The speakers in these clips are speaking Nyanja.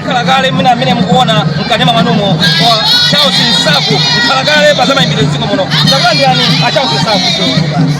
mkhalakale mwina amene mukuona mkanema mwanumo wa Charles Nsaku mkhalakale pa zamayimbidwe dziko muno takulandirani a Charles Nsaku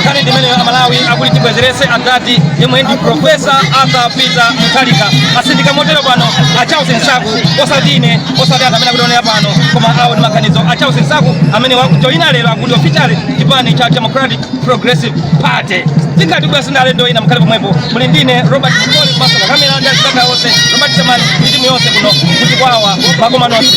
nkhani ndimene amalawi akuti tibwezerese adadi yemwe ndi profesa arthur peter mutharika asindika motero pano a charles nsaku osati ine osati anthu amene akutionera pano koma awo ndi maganizo a charles nsaku amene akujoyina lero akuti officially chipani cha democratic progressive party tikati pasinthe ndale ndo ina mkhale pomwepo muli ndine robert mkoli komanso pakamera ndi anzanga onse robert temani ndi timu yonse kuno tikuti wawa makosana nonse